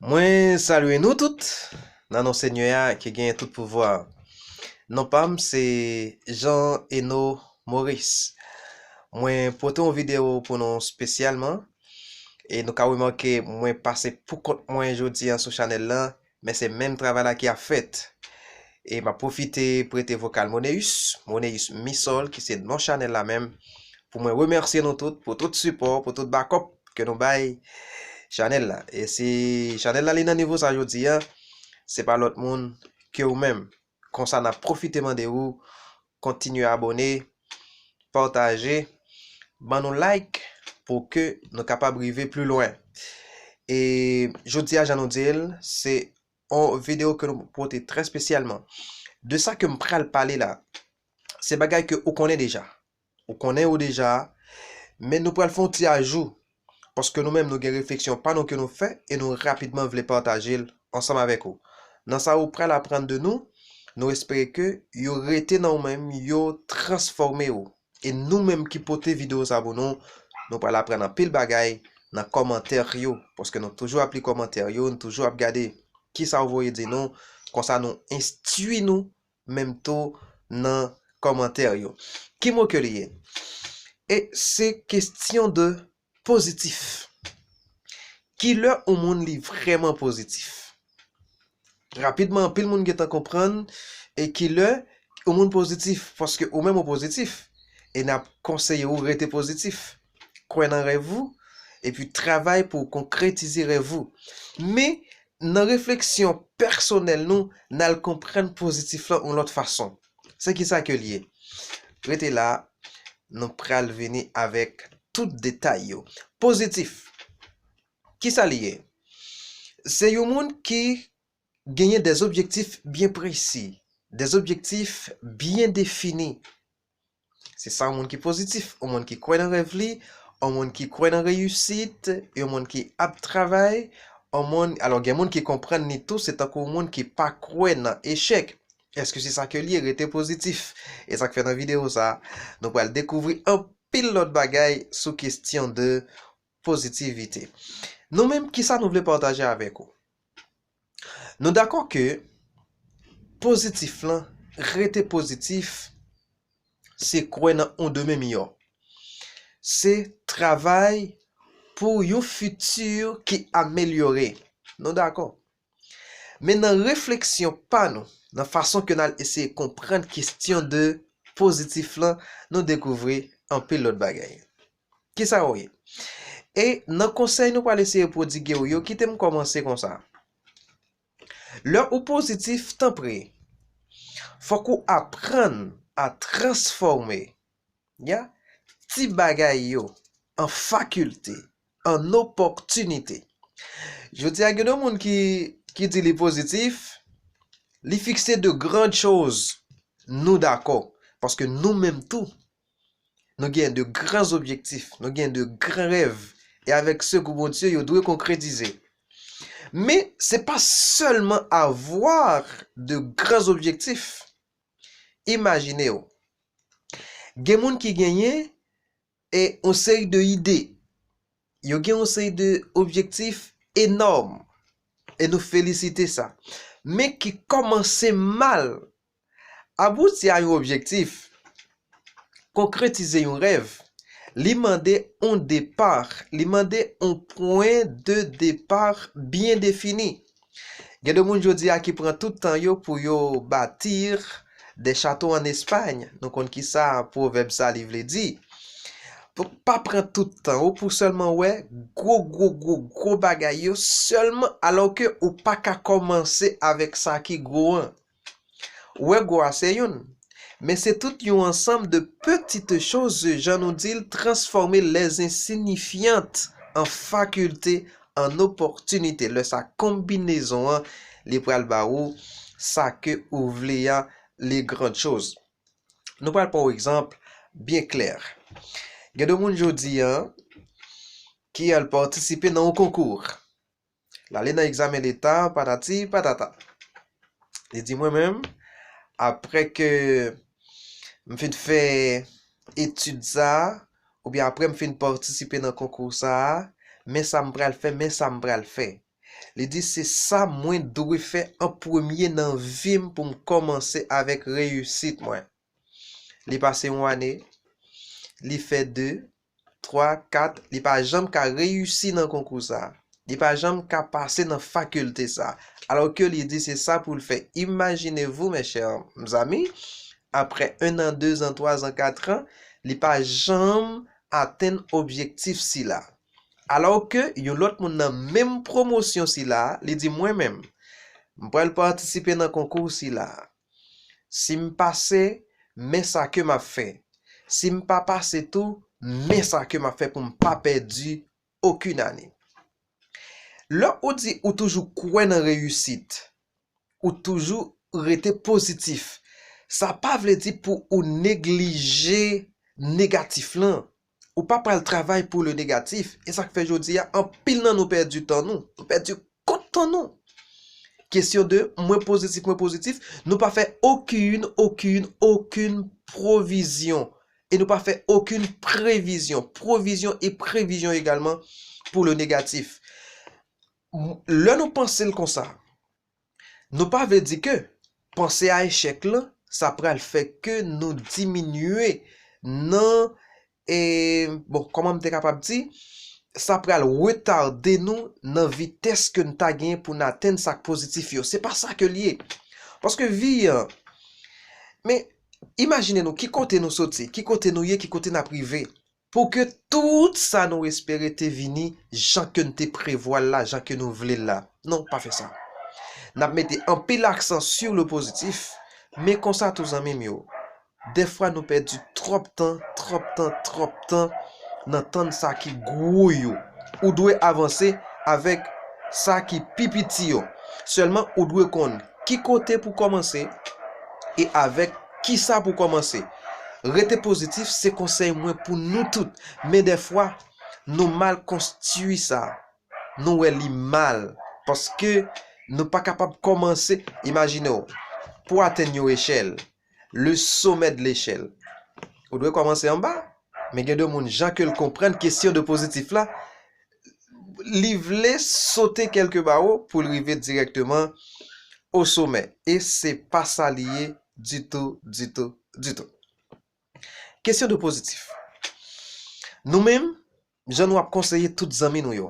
Mwen salye nou tout nan non Senyè a ki genyen tout pouvwa. Non pa m se Jean Eno Maurice. Mwen pote yon videyo pou nou spesyalman e nou ka remake mwen pase pou kont mwen jodi an sou chanèl lan Men se menm travay la ki ap fèt. E map pwofite prete vokal Moneus, Moneus Misol ki se non chanèl la menm, pou mwen remèsye nou tout pou tout sipò, pou tout bakòp ke nou bay chanèl la. E si chanèl la li nan nivo sa jodi a, se pa lòt moun ke ou menm. Konsa nap profite mande ou kontinye abone, pataje, ban nou like pou ke nou kapab rive pli lwen. E jodi a jan nou di l, se yon video ke nou pote trè spesyalman. De sa ke m pral pale la, se bagay ke ou konnen deja. Ou konnen yo deja a, men nou pral fè yon ti ajou, paske nou menm nou gen refleksyon pa nou ke nou fè e nou rapidman vle pataje l ansanm avèk ou. Nan sa ou pral aprann de nou, nou espere ke yo rete nan ou menm, yo transfòme ou. E nou menm ki pote video sa pou nou, nou pral aprann anpil bagay nan kòmantè yo, paske nou toujou ap li kòmantè yo, nou toujou ap gade kisa ou voye di nou, konsa nou enstui nou. menm tou nan kòmantè yo. Ki mo ke li ye? E se kestyon de pozitif. Ki lè yon moun li vrèman pozitif? Rapidman anpil moun gentan konprann e ki lè yon moun pozitif paske ou menm ou pozitif e n ap konseye ou rete pozitif. kwè nan rèv ou, epi travay pou w konkretize rèv ou. Men, nan refleksyon pèsonèl nou, n al konprann pozitif lan yon lòt fason. Se kisa ke l ye? Rete la, nou pral vini avèk tout detay yo. Pozitif, kisa li ye? Se yon moun ki genyen dè objektif byen presi, dè objektif byen defini. Se sa yon moun ki pozitif, yon moun ki kwè nan rèv li, yon moun ki kwè nan reyisit, yon moun ki ap travay, yon moun, alò gen moun ki konprann li tou se tankou yon moun ki pa kwè nan echèk. Eske se sa ke l ye? Rete pozitif! E sa k fè nan videyo sa a, nou pral dekouvri anpil lòt bagay sou kestyon de pozitivite. Nou menm, kisa nou vle pataje avèk ou? Nou dakò ke pozitif lan, rete pozitif, se kwè nan yon demen miyò. Se travay pou yon fiti ki amelyore. Nou dakò. Men nan refleksyon pa nou, nan fason ke n al eseye konprann kestyon de pozitif lan, nou dekouvri anpil lòt bagay. Kisa ou ye? E nan konsèy nou pral eseye pwodigue ou yo, kite m kòmanse konsa. Lè ou pozitif, tanpri, fòk ou aprann a transfòme, ya, ti bagay yo an fakilte, an opòtinite. Jodi a gen de moun ki di li pozitif, li fikse de grand chose, nou dakò, paske nou menm tou Nou gen de gran zobjektif, nou gen de gran rèv, e avèk sekou Bondye, yo dwe konkretize. Men, se pa sèlman avwa de gran zobjektif. Imajine w, gen moun ki genyen e yon seri de ide, yo gen yon seri de objektif enòm, e nou felisite sa, men ki kòmanse mal. Abouti a yon objektif, konkretize yon rèv, li mande yon depart, li mande yon pwen de depar byen defini. Gen de moun jodi a ki pran tout tan yo pou yo batir de chato an Espay, nou konn ki sa pwovèb sa li vle di. Pa pran tout tan ou pou sèlman wè gwo gwo gwo gwo bagay yo sèlman alò ke ou pa ka kòmanse avèk sa ki gwo an. Wego a se youn. Men se tout yon ansanm de petite chose jan nou di l transfòme les insignifiantes en faculté, en opportunité. Lè sa konbinezon an li pral ba ou sa ke ou vle a les grandes choses. Nou pral pran yon egzanp byen klè. Gen de moun jodi a ki al patisipe nan yon konkou. L ale nan egzamen leta, patati patata. Li di mwen menm, apre ke m fin fè etid sa a, oubyen apre m fin patisipe nan konkou sa a, men sa m pral fè, men sa m pral fè. Li di se sa mwen dwe fè an premye nan vi m pou m kòmanse avèk reyisit mwen. Li pase yon ane, li fè de, 3, 4, li pa janm ka reyisi nan konkou sa. Li pa janm ka pase nan fakilte sa. Alò ke li di se sa pou l fè. Imajine vou, mes chers amis, apre 1 an, 2 an, 3 an, 4 an, li pa janm atenn objektif sila. Alò ke yon lòt moun nan menm pwomosyon sila, li di mwen menm, m pral patisipe nan konkou sila. Si m pase, men sa ke m ap fè. Si m pa pase tou, men sa ke m ap fè pou m pa pèdi okenn ane. Lè ou di ou toujou kwè nan reyisit, ou toujou rete pozitif, sa pa vle di pou ou neglije negatif lan. Ou pa pral travay pou le negatif, e sak fè jodi a anpil nan nou pèdi tan nou, nou pèdi kont tan nou. Kesyon de mwen pozitif, mwen pozitif, nou pa fè okin, okin, okin pwovizyon, e nou pa fè okin previzyon, pwovizyon e previzyon egalman pou le negatif. Lè nou panse l konsa, Nou pa vle di ke panse a echèk lan sa pral fè ke nou diminye nan e bon kòman m te kapab di sa pral retade nou nan vitès ke n ta genyen pou n atenn sa k pozitif yo. Se pa sa ke l ye. Paske vi an men imajine nou ki kote nou soti, ki kote nou ye, ki kote n ap rive. Pou ke tout sa nou espere te vini jan ke n te prevwa l la, jan ke nou vle l la. Non, pa fè sa. N ap mete anpil aksan sur le positif, men konsa tou zanmi m yo, dèfwa nou pèdi twòp tan, twòp tan, twòp tan nan tann sa ki gwo yo. Ou dwe avanse avèk sa ki pi piti yo. Sèlman ou dwe konn Ki kote pou kòmanse e avèk kisa pou kòmanse? Rete pozitif se konsèy mwen pou nou tout, men dèfwa nou mal konstui sa, nou wè li mal paske nou pa kapab kòmanse, imajinew pou atenn yon echèl, le sommet de l'échelle. Ou dwe kòmanse anba, men gen de moun jan ke l konprann kesyon de pozitif la, li vle sote kèlke bawo pou l rive dirèkteman o somè. E se pa sa li ye ditou, ditou, ditou. Kesyon de pozitif. Nou menm. Jan nou ap konseye tout zanmi nou yo.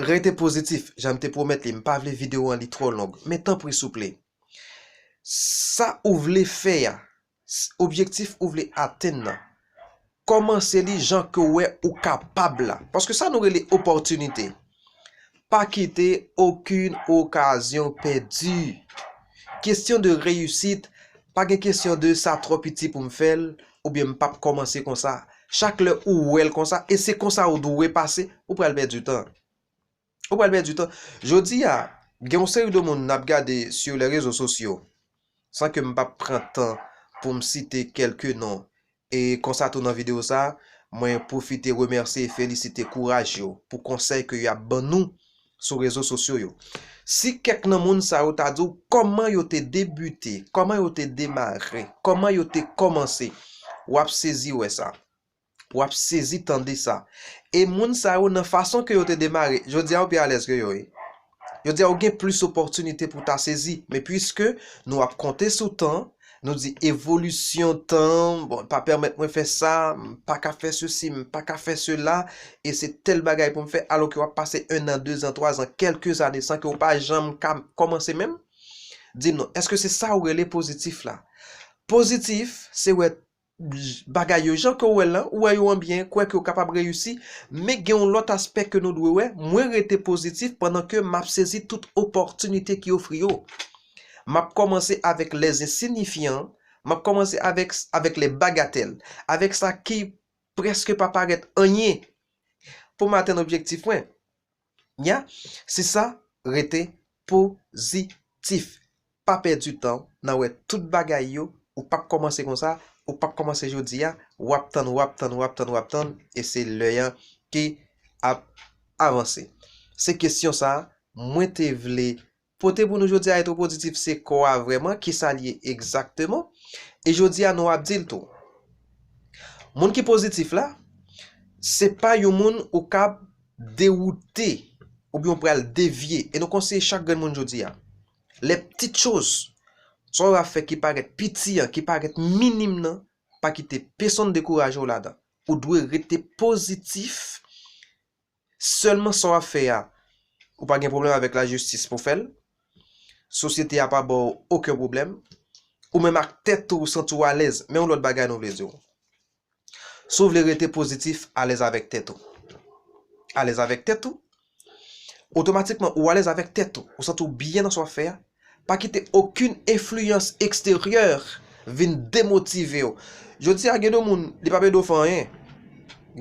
Rete pozitif, jan m te pwomèt li, m pa vle videwo an li twò long, men tanpri souple, sa ou vle fè a, objektif ou vle atenn nan, kòmanse li jan ke ou wè ou kapab la, paske sa nou rele opòtinite, Pa kite okenn okazyon pèdi. Kesyon de reyisit, pa gen kesyon de sa twò piti pou m fè l oubyen m pap kòmanse konsa. Chak lè ou wè l konsa e se konsa ou dwe pase, ou pral pèdi tan. Ou pral pèdi tan. Jodi a, gen yon seri de moun n ap gade sou lè rezo sosyo. San ke m pa p pran tan pou m site kelke non, e konsa tou nan video sa, mwen pwofite remèsye e felisite kouraj yo pou konsèy ke y ap ban nou sou rezo sosyo yo. Si kèk nan moun sa yo ta di w kòman yo te debite, kòman yo te demare, kòman yo te kòmanse, w ap sezi wè sa. Wap sezi tande sa. E moun sa yo nan fason ke yo te demare, jodi a ou pi alèz ke yo wi. Jodi a ou gen plis opòtinite pou ta sezi, men pwiske nou ap konte sou tan, nou di evolisyon tan, bon pa pèmèt mwen fè sa, m pa ka fè sesi, m pa ka fè sela, e se tèl bagay pou m fè, alò ke wap pase 1 an, 2 an, 3 an, kèlke zane san ke ou pa janm ka kòmanse menm? Di m non, èske se sa ou rele pozitif la? Pozitif, se wè bagay yo jan ke w wè l lan, ou wè yo anbyen, kwè ke w kapab reyisi, men gen yon lòt aspè ke nou dwe wè, mwen rete pozitif pandan ke m ap sezi tout opòtinite ki ofri yo. M ap kòmanse avèk lè zensinifyan, m ap kòmanse avèk avèk lè bagatèl, avèk sa ki prèske pa parèt anyen pou m atenn objektif mwen. Nya se sa rete pozitif pa pèdi tan w nan wè tout bagay yo ou pap kòmanse konsa ou pap kòmanse jodi a wap tann wap tann wap tann wap tann e se lè an ki ap avanse se kesyon sa mwen te vle Pote pou nou jodi a etwopozitif se kò a vrèman, ki sa l ye egzakteman, e jodi a nou ap di l tou. Moun ki pozitif la, se pa yon moun ou kab dewoute oubyen ou pral devye, e nou konseye chak grenn moun jodi a, lè ptit choz sa w ap fè ki parèt piti an, ki parèt minim nan, pa kite pesonn dekouraje w ladan, ou dwe rete pozitif. Sèlman sa w ap fè a, ou pa gen pwoblèm avèk lajistis pou w fè l, sosyete a pa ba w oken pwoblèm, ou menm ak tèt ou ou santi w alèz. Men yon lòt bagay nou vle di w, si w vle rete pozitif, alèz avèk tèt ou. Alèz avèk tèt ou, otomatikman ou alèz avèk tèt ou, ou santi w byen nan sa w ap fè a, Pa kite okenn enfliyans eksteryè vin demotive w. Jodi a gen de moun, li pa pèdi w fè anyen.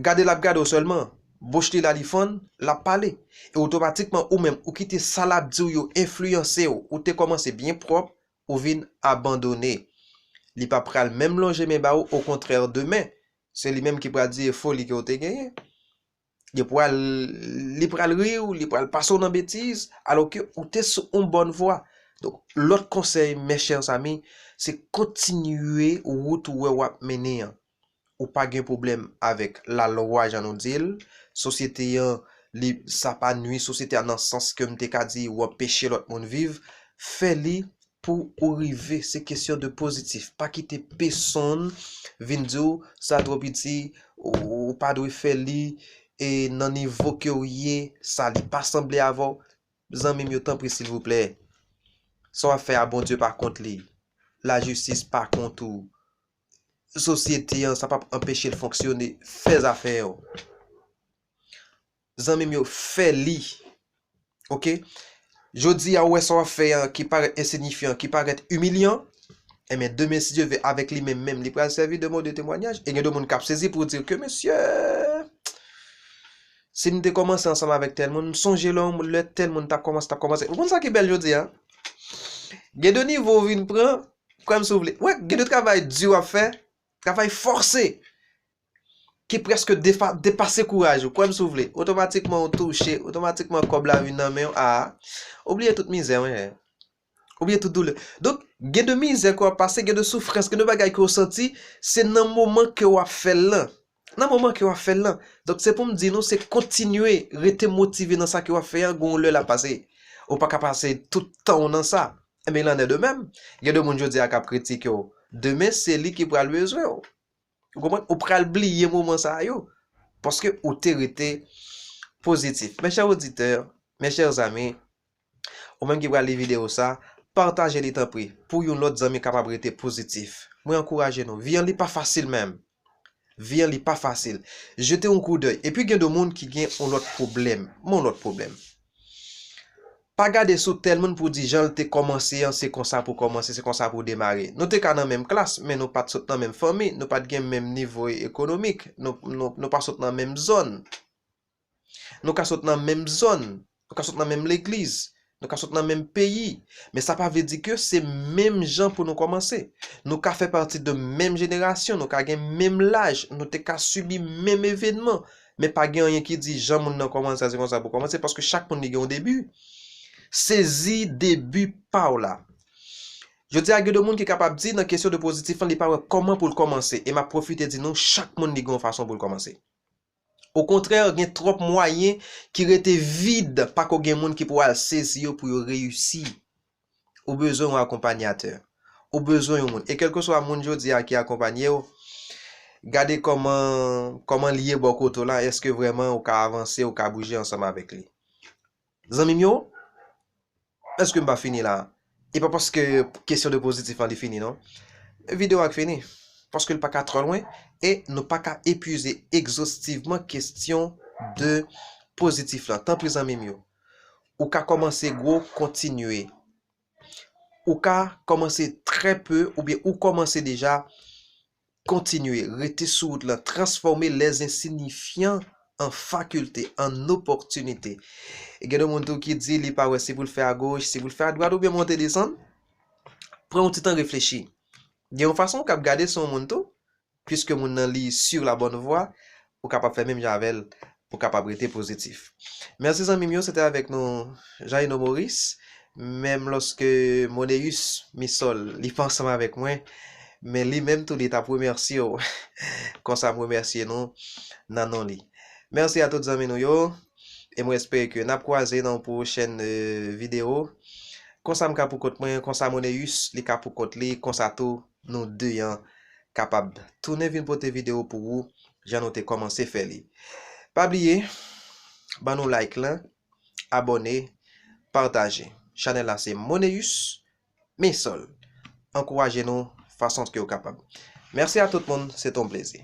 Gade l ap gade w sèlman, bouch li la li fann, l ap pale. E otomatikman ou menm, ou kite sa l ap di w yo enfliyanse w. Ou te kòmanse byen pwòp, ou vin abandone. Li pa pral menm lonje men ba ou, okontrè demen, se li menm ki pral di e foli ke w te genyen. Li pral li pral ri ou, li pral pase ou nan betiz, alò ke ou te sou yon bòn vwa. Donk, lòt konsèy mes chers amis, se kontinye wout ou wè w ap mennen an. Ou pa gen pwoblèm avèk lalwa jan nou di l, sosyete an li sa pa nui sosyete a nan sans ke m te ka di ou anpeche lòt moun viv, fè li Pou ou rive se kesyon de pozitif pa kite pesonn vin di w sa twò piti ou pa dwe fè li e nan nivo ke w ye sa li pa sanble avè w zanmi m yo tanpri silvouplè sa w ap fè a Bondye pa kont li lajistis pa kont ou sosyete an sa p ap anpeche l fonksyone fè zafè w. Zanmim yo fè li ok jodia ou wè sa wap fè an ki parèt ensinyifyan ki parèt imilyan enben demen si Dye ve avèk li menm menm li pral sèvi de mode temwanyaj e gen de moun kap sezi pou di ke mesye sim te kòmanse ansanm avèk tèl moun m sonje lè yon lè tèl moun tap kòmanse tap kòmanse ou konn sa ki bèl jodia gen de nivo ou vin pran kwèm si ou vle wè gen de travay di wap fè travay fòse ki preske depase kouraj ou, kwè m si w vle, otomatikman ou touche, otomatikman kòb la vin nan men w, aa, ou bliye tout mizè w, enhen, ou bliye tout doulè. Donk, gen de mizè ke w ap pase, gen de soufrans, gen de bagay ke w santi, se nan moman ke w ap fè l lan, nan moman ke w ap fè l lan. Donk, se pou m di nou, se kontinye rete motive nan sa ke w ap fè an, gon yon lè l ap pase. Ou pa ka pase tout tan w nan sa. Enben, il en est de même, gen de moun jodi a k ap kritike w, demen se li ki pral bezwen w. Ou konprann? Ou pral bliye moman sa yo, paske ou te rete pozitif. Mes chers auditeurs, mes chers amis, ou menm ki pral li video sa, pataje li tanpri, pou yon lòt zanmi kapab rete pozitif. Mwen ankouraje nou. Vi an li pa fasil menm. Vi an li pa fasil. Jete yon koudèy. Epi gen de moun ki gen yon lòt pwoblèm. Yon lòt pwoblèm. Pa gade sou tèl moun pou di jan l te kòmanse an se konsa pou kòmanse, se konsa pou demare. Nou te ka nan menm klas, men nou pa t sot nan menm fanmi, nou pa t gen menm nivo ekonomik, nou pa sot nan menm zòn. Nou ka sot nan menm zòn, nou ka sot nan menm legliz, nou ka sot nan menm peyi, men sa pa vle di ke se menm jan pou nou kòmanse. Nou ka fè pati de menm jenerasyon, nou ka gen menm laj, nou te ka sibi menm evenman, Men pa gen anyen ki di jan moun nan kòmanse a se konsa pou kòmanse paske chak moun li gen yon debi. Sezi debi pa w la. Jodi a gen de moun ki kapab di nan kesyon de pozitif lan li pa wè kòman pou l kòmanse e m ap pwofite di nou chak moun li gen yon fason pou l kòmanse. Okontrè gen twòp mwayen ki rete vid pako gen moun ki pou al sezi yo pou yo reyisi Ou bezwen yon akonpanyatè. Ou bezwen yon moun. E kèlkeswa moun jodi a ki akonpanye w, gade kòman, kòman li ye bò kote w la, èske vrèman ou ka avanse, ou ka bouje ansanm avèk li. Zanmi m yo, èske m pa fini la a? E pa paske kesyon de pozitif lan li fini non. Videyo a k fini. Paske l pa ka twò lwen, e nou pa ka epize egzostivman kesyon de pozitif lan. Tanpri zanmi m yo. Ou ka kòmanse gwo kontinye. Ou ka kòmanse trè pe oubyen ou kòmanse deja kontinye rete sou wout lan transfòme lè zensinifyan an fakilte, an opòtinite. Gen de moun tou ki di li pa wè si pou l fè agoch, si pou l fè adwat oubyen monte desann. Pran yon ti tan reflechi. Gen yon fason ou kab gade sou yon moun tou, Puiske moun nan li sur la bonne voie ou kapab fè menm jan avèl pou kapab rete pozitif. Merci zanmim yo se te avèk nou Jaïno Maurice menm loske Moneus Misol li pa ansanm avèk mwen men li menm tou li tap remèsyew konsa m remèsye nou nan non li. Merci a tout zanmi nou yo e mwen espere ke nap kwaze nan yon pwochèn video konsa m ka pou kont mwen konsa Moneus li ka pou kont li konsa tou Nou 2 an kapab tounen vin pote video pou ou jan nou te komanse fè li. Pa bliye ban nou like lan, abone, pataje. Chanel la se Moneus Maisol. Ankouraje nou fason ke ou kapab. Merci a tout moun, se te yon plezi.